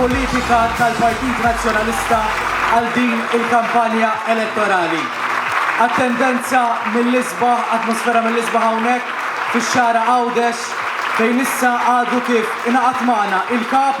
Politika tal-Partit Nazzjonalista għal din il-kampanja elettorali. Attendenza mill-isba, atmosfera mill-isba hawnhekk fix-xara Għawdex fejn issa għadu kif inaqat magħna il-kap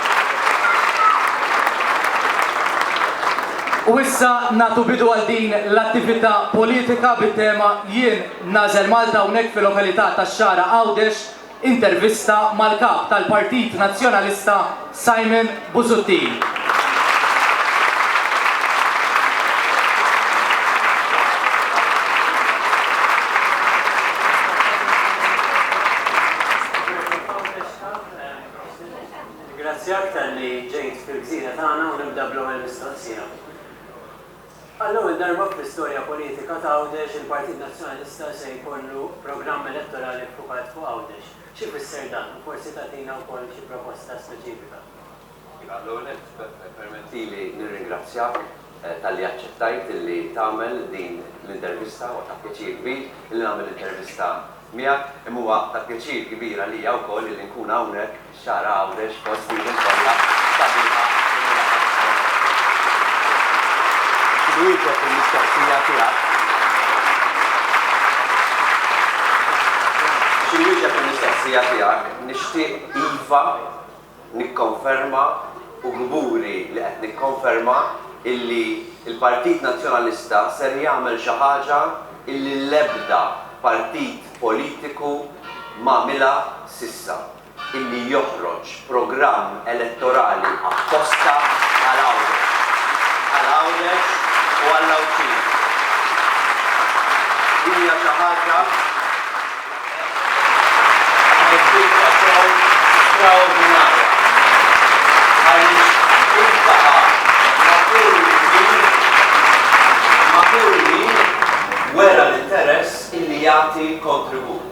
U issa nagħtu bidu għal din l-attività politika bit-tema Jien Nagħżel Malta hawnhekk fil-lokalità tax-Xagħra Għawdex, intervista mal-Kap tal-Partit Nazzjonalista Simon Busuttil. Nirringrazzjak talli ġejt fil-gżira tagħna u nibda bl-ewwel mistoqsija. Għall-ewwel darba fl-istorja politika ta' Għawdex il-Partit Nazzjonalista se jkollu programm elettorali ffukat fuq Għawdex. X'ifisser dan u forsi tagħtina wkoll xi proposta speċifika? Iva, l-ewwel nett permettili nirringrazzjak talli aċċettajt illi tagħmel din l-intervista. Huwa ta' pjaċir kbir illi nagħmel intervista miegħek, imma huwa ta' pjaċir kbir għalija wkoll illi nkun hawnhekk f'Xagħra Għawdex fost din il-folla sabiħa illi laħqet hawnhekk. Biex inwieġeb il-mistoqsija tiegħek, biex inwieġeb il-mistoqsija tiegħek, nixtieq iva Nikkonferma u kburi li qed nikkonferma illi l-Partit Nazzjonalista ser jagħmel xi ħaġa illi l-ebda partit politiku m'għamilha s'issa, illi joħroġ programm elettorali apposta għal Għawdex, għal Għawdex u għall-Għawdxin. Din hija xi ħaġa. Għamilt ħidma sew straordinarja għaliex iltaqa' matul il-ħin matul il-ħin wera l-interess illi jagħti kontribut,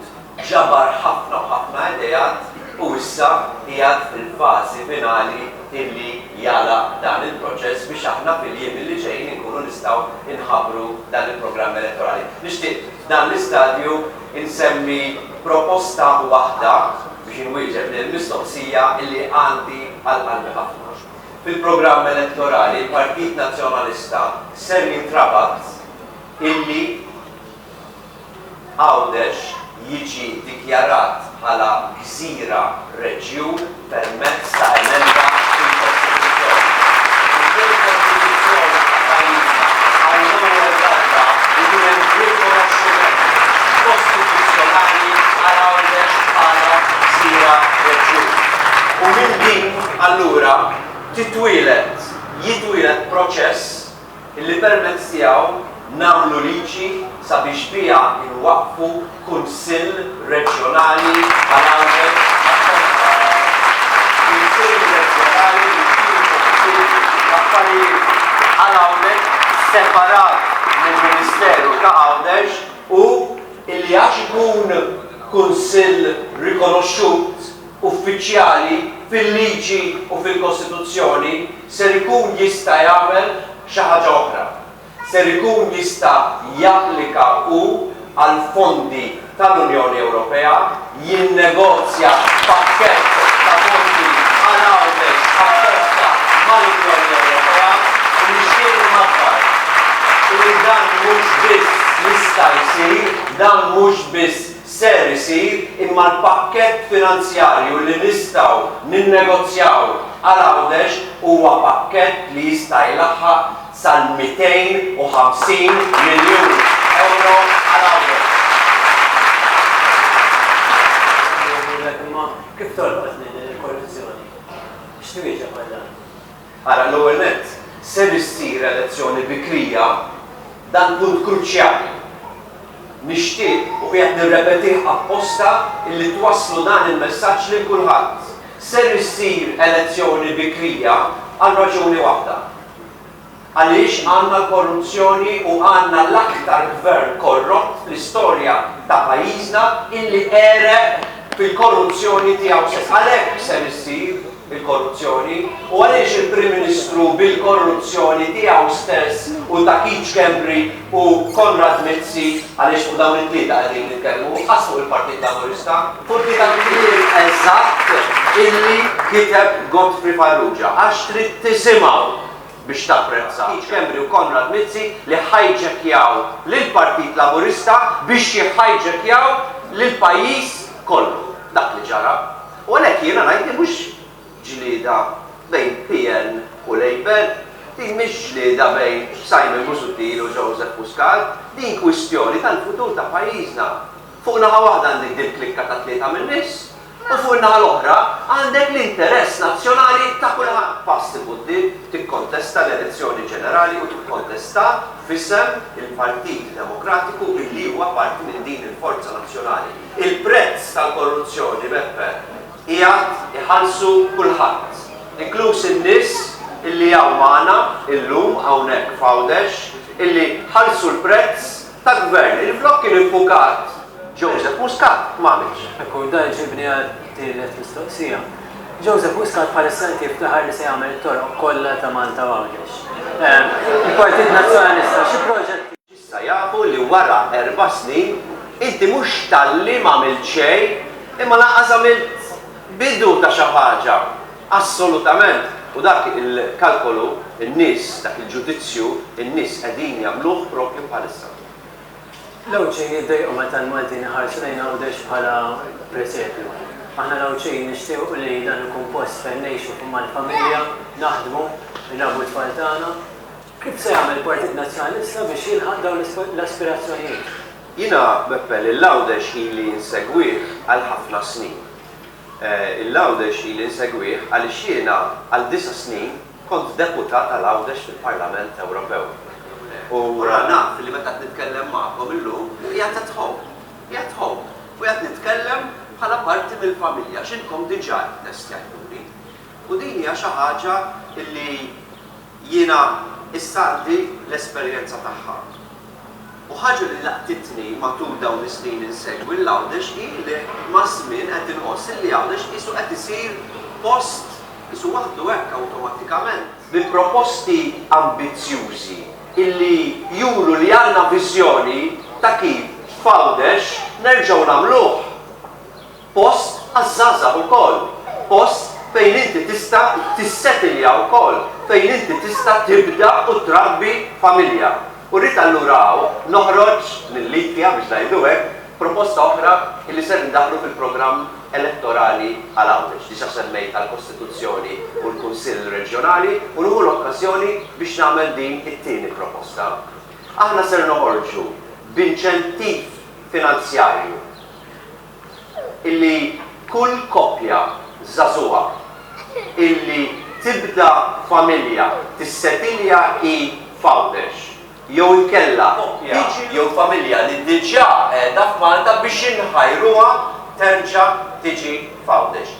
ġabar ħafna u ħafna ideat u issa qiegħed fil-fażi finali illi jagħlaq dan il-proċess biex aħna fil-jiem illi ġejjin inkunu nistgħu nħabbru dan il-programm elettorali. Nixtieq F'dan l-istadju insemmi proposta waħda biex inwieġeb lill-mistoqsija li għandi għal qalbi ħafna. Fil-programm elettorali l-Partit Nazzjonalista ser jintrabat illi Għawdex jiġi dikjarat bħala gżira reġjun, permezz ta' emenda fil-Kostituzzjoni. Minkejn il-Kostituzzjoni ta' pajjiżna għall-ewwel darba ikun hemm rikonoxximent kostituzzjonali għal Għawdex bħala gżira reġjun. U minn din allura titwieled, jitwieled proċess, li permezz tiegħu nagħmlu liġi sabiex biha nwaqqfu Kunsill Reġjonali għall-Għawdex għall-Ponta, Kunsill Reġjonali li jkun ipoġġi l-affarijiet għall-Għawdex separat mill-Ministeru ta' Għawdex u li għax ikun Kunsill rikonoxxut, uffiċjali fil-liġi u fil-Kostituzzjoni ser ikun jista' jagħmel xi ħaġa oħra. Ser ikun jista' japplika hu għal fondi tal-Unjoni Ewropea, jinnegozja pakkett ta' fondi għal Għawdex apposta mal-Unjoni Ewropea u nixtieq inħabbar li dan mhux biss jista' jsir, dan mhux biss ser isir imma l-pakkett finanzjarju li nistgħu ninnegozjaw għal Għawdex huwa pakkett li jista' jlaħħaq sal-250 miljun ewro għal Għawdex. Nirringrazzjak imma kif tolqotni din il-korruzzjoni? X'twieġeb għal dan? Ara, l-ewwel nett, ser issir elezzjoni bikrija, dan punt kruċjali. Nixtieq, u qiegħed nirrepetih apposta, illi twasslu dan il-messaġġ lil kulħadd. Ser issir elezzjoni bikrija għal raġuni waħda. Għaliex għandna l-korruzzjoni u għandna l-aktar Gvern korrott fl-istorja ta' pajjiżna illi għereq fil-korruzzjoni tiegħu stess. Għalhekk ser issir. bil-korruzzjoni u għaliex il-Prim Ministru bil-korruzzjoni tiegħu stess u ta' Keith Schembri u Konrad Mizzi, għaliex fuq dawn it-tlieta qegħdin nitkellmu, qas fuq il-Partit Laburista. Furti tal-kliem eżatt illi kiteb Godfrey Farrugia, għax trid tisimgħu biex tapprezza Keith Schembri u Konrad Mizzi li ħajġekkjaw lill-Partit Laburista biex jihhajġekkjaw lill-pajjiż kollu. Dak li ġara. U għalhekk jiena ngħid li mhux ġlieda bejn PN u Labour, din mhix ġlieda bejn Simon Busuttil u Joseph Muscat, din kwistjoni tal-futur ta' pajjiżna. Fuq naħa waħda għandek dil-klikka ta' tlieta min-nies u fuq in-naħa l-oħra għandek l-interess nazzjonali ta' kulħadd. Pass 'il quddiem, tikkontesta l-elezzjoni ġenerali u tikkontesta f'isem il-Partit Demokratiku illi huwa parti minn din il-forza nazzjonali. Il-prezz tal-korruzzjoni, Beppe, qiegħed iħallsu kulħadd, inkluż in-nies illi hawn magħna illum hawnhekk f'Għawdex illi ħallsu l-prezz ta' Gvern illi flok kien iffukat Joseph Muscat m'għamilx. Ekku, u dan iġibni għat-tielet mistoqsija. Joseph Muscat bħalissa qed jiftaħar li se jagħmel it-toroq kollha ta' Malta u Għawdex. Il-Partit Nazzjonalista xi proġetti. Issa jafu li wara erba' snin inti mhux talli m'għamilt xejn imma lanqas għamilt bidu ta' xi ħaġa. Assolutament! U dak il-kalkolu n-nies, dak il-ġudizzju n-nies qegħdin jagħmluh proprju bħalissa. L-Għawdxin jiddejqu meta l-Maltin iħarsu lejn Għawdex bħala presepju. Aħna l-Għawdxin nixtiequ li dan ikun post fejn ngħixu mal-familja, naħdmu, nrabbu t-tfal tagħna. Kif se jagħmel il-Partit Nazzjonalista biex jilħaq dawn l-aspirazzjonijiet? Jiena, Beppe, lil Għawdex ili nsegwih għal ħafna snin. Il Għawdex ili nsegwih għaliex jiena għal disa' snin kont deputat għal Għawdex fil-Parlament Ewropew. U allura naf li meta qed nitkellem magħkom illum qiegħed at home. Qiegħed home. U qiegħed nitkellem bħala parti mill-familja għax intkom diġà ittestjajtuli. U din hija xi ħaġa li, Jiena issa għandi l-esperjenza tagħha. U ħaġa li laqtitni matul dawn is-snin insegwi 'l Għawdex hi li maż-żmien qed inħoss illi Għawdex qisu qed isir post qisu waħdu hekk awtomattikament. Bi proposti ambizzjużi illi juru li għandna viżjoni ta' kif f'Għawdex nerġgħu nagħmluh. Post għaż-żgħażagħ ukoll, post fejn inti tista' tissetilja wkoll, fejn inti tista' tibda u trabbi familja. U rrid allura hawn noħroġ lil IKEA, biex ngħidu hekk, proposta oħra li ser indaħħlu fil-programm elettorali għal Għawdex. Diġà semmejt għall-Kostituzzjoni u l-Kunsill Reġjonali u nieħu l-okkażjoni biex nagħmel din it-tieni proposta. Aħna ser noħorġu b'inċentiv finanzjarju illi kull koppja żagħżugħa illi tibda familja tissetilja hi f'Għawdex jew inkella koppja jew familja li diġà qiegħda f'Malta biex inħajruha terġa' tiġi f'Għawdex.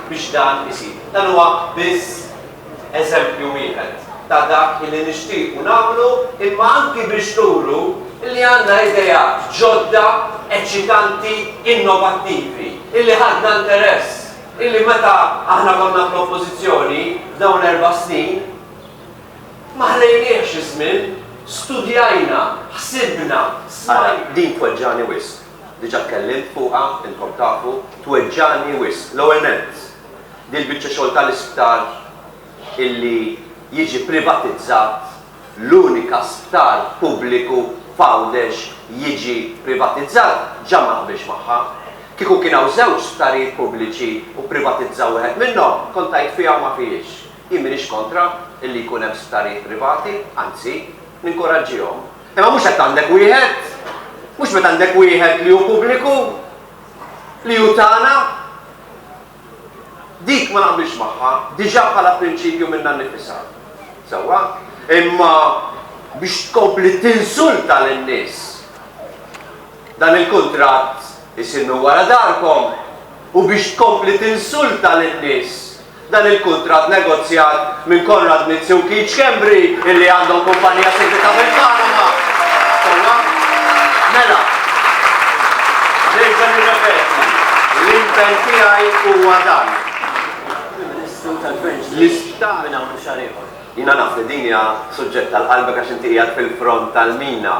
biex dan isir. Dan huwa biss eżempju wieħed ta' dak illi nixtiequ nagħmlu imma anki biex nuru illi għandna ideat ġodda, eċċitanti, innovattivi, illi ħadna interess, illi meta aħna konna fl-Oppożizzjoni f'dawn l-erba' snin ma ħlejniehx iż-żmien, studjajna, ħsibna, smajna. Ara, din tweġġagħni wisq. diġà tkellimt fuqha, intkom tafu, tweġġagħni wisq. L-ewwel nett, din l-biċċa xogħol tal-isptar illi jiġi privatizzat, l-unika sptar pubbliku f'Għawdex jiġi privatizzat, ġa ma naqbilx magħha. Kieku kien hawn żewġ sptarijiet pubbliċi u pprivatizzaw wieħed minnhom, kont għidt fiha u ma fihiex. Jien m'iniex kontra illi jkun hemm sptarijiet privati, anzi, ninkuraġġihom. Imma mhux hekk għandek wieħed, mhux meta għandek wieħed li hu pubbliku, li hu tagħna. Dik ma naqbilx magħha, diġà bħala prinċipju minnha nnifisha. Sewwa, imma biex tkompli tinsulta lin-nies. Dan il-kuntratt isinnu wara darkom u biex tkompli tinsulta lin-nies dan il-kuntratt negozjat minn Konrad Mizzi u Keith Schembri illi għandhom kumpanija segreta fil-Panama. Sewwa? Mela, nerġa' nirrepeti, l-impenn tiegħi huwa dan. Il-Ministru tal-Gvern ġdid minn hawn u xahar ieħor. Jiena naf li din hija suġġett tal-qalbek għax inti qiegħed fil-front tal-mina,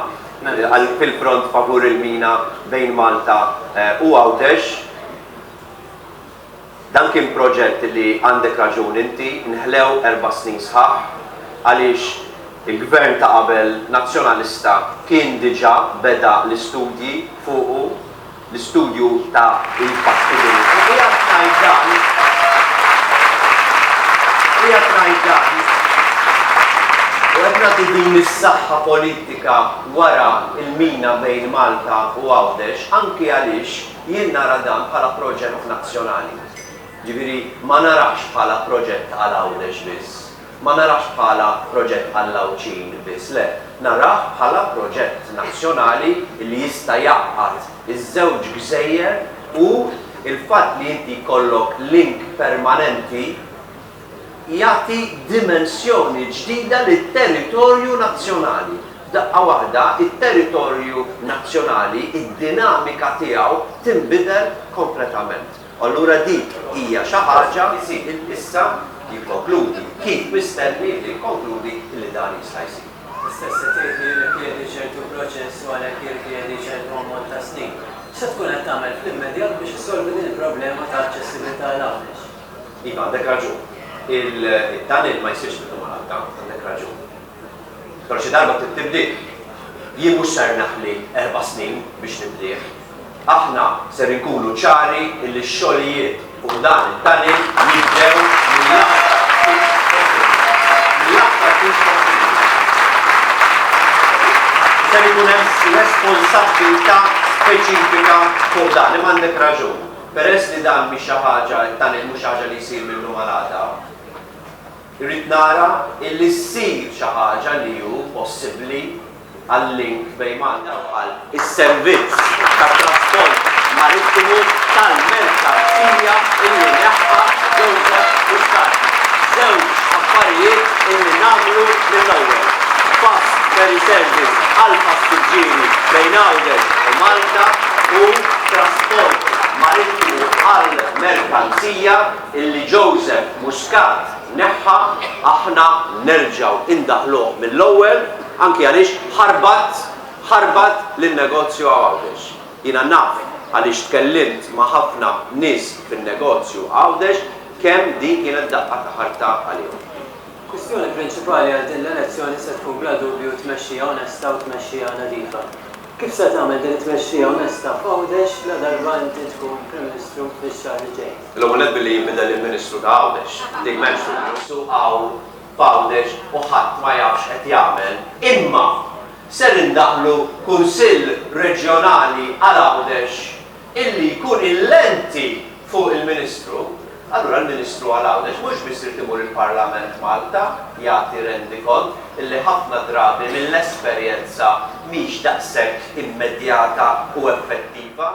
fil-front favur il-mina bejn Malta u Għawdex. Dan kien proġett li, għandek raġun inti, nħlew erba' snin sħaħ għaliex il-Gvern ta' qabel Nazzjonalista kien diġà beda l-istudji fuqu, l-istudju ta' l-fattibilità. Qiegħed ngħid dan, qiegħed ngħid dan u qed nagħti din is-saħħa politika wara l-mina bejn Malta u Għawdex anki għaliex Jien nara dan bħala proġett nazzjonali. Jiġifieri ma narax bħala proġett għal Għawdex biss, ma narax bħala proġett għall-Għawdxin biss, le, narah bħala proġett nazzjonali li jista' jgħaqqad iż-żewġ gżejjer u l-fatt li inti jkollok link permanenti, jagħti dimensjoni ġdida lit-territorju nazzjonali. F'daqqa waħda, it-territorju nazzjonali, id-dinamika tiegħu tinbidel kompletament. U allura dik hija xi ħaġa. Isir issa, jikkonkludi, kif mistenni li jikkonkludi, li dan jista' jsir. L-istess qed jgħid li jirrikjedi ċertu proċess u għalhekk jirrikjedi ċertu ammont ta' snin. X'se tkun qed tagħmel fl-immedjat biex issolvi din il-problema ta' aċċessibilità għal Għawdex? Iva, għandek raġun. Il-tunnel ma jsirx minnu malajr, ta, għandek raġun. Però xi darba trid tibdieh. Jien mhux ser neħli erba' snin biex nibdieh. Aħna ser inkunu ċari illi x-xogħlijiet fuq dan it-tunnel jibdew mill-aktar fis possibbli. Mill-aktar fis possibbli. Ser ikun hemm responsabbiltà speċifika fuq dan, imma għandek raġun. Peress li dan mhix xi ħaġa, it-tunnel mhux xi ħaġa li jsir mil-lum għal għada, irrid nara illi ssir xi ħaġa li hu possibbli għal-link bejn Malta u Ħal. Is-servizz tat-trasport marittimu tal-merkanzija illi neħħa Joseph Muscat. Żewġ affarijiet illi nagħmlu mill-ewwel, fast ferry service għall-passiġġieri bejn Għawdex u Malta, u trasport marittimu għall-merkanzija illi Joseph Muscat neħħa, aħna nerġgħu indaħħluh mill-ewwel, anki għaliex ħarbat, ħarbat lin-negozju Għawdex. Jiena naf għaliex tkellimt ma' ħafna nies fin-negozju Għawdex kemm din kienet daqqa ta' ħarta għalihom. Kwistjoni prinċipali għal din l-elezzjoni se tkun bla dubju tmexxija onesta u tmexxija nadifa. Kif se tagħmel din it-tmexxija onesta f'Għawdex ladarba inti tkun Prim Ministru fix-xahar li ġej? L-ewwel nett billi jinbidel il-Ministru ta' Għawdex. Dik m'hemmx dubju. Is-suq hawn f'Għawdex u ħadd ma jaf x'qed jagħmel. Imma ser indaħħlu Kunsill Reġjonali għal Għawdex illi jkun il-lenti fuq il-Ministru, allura l-Ministru għal Għawdex mhux biss irid imur il-Parlament Malta jagħti rendikont illi ħafna drabi mill-esperjenza mhix daqshekk immedjata u effettiva.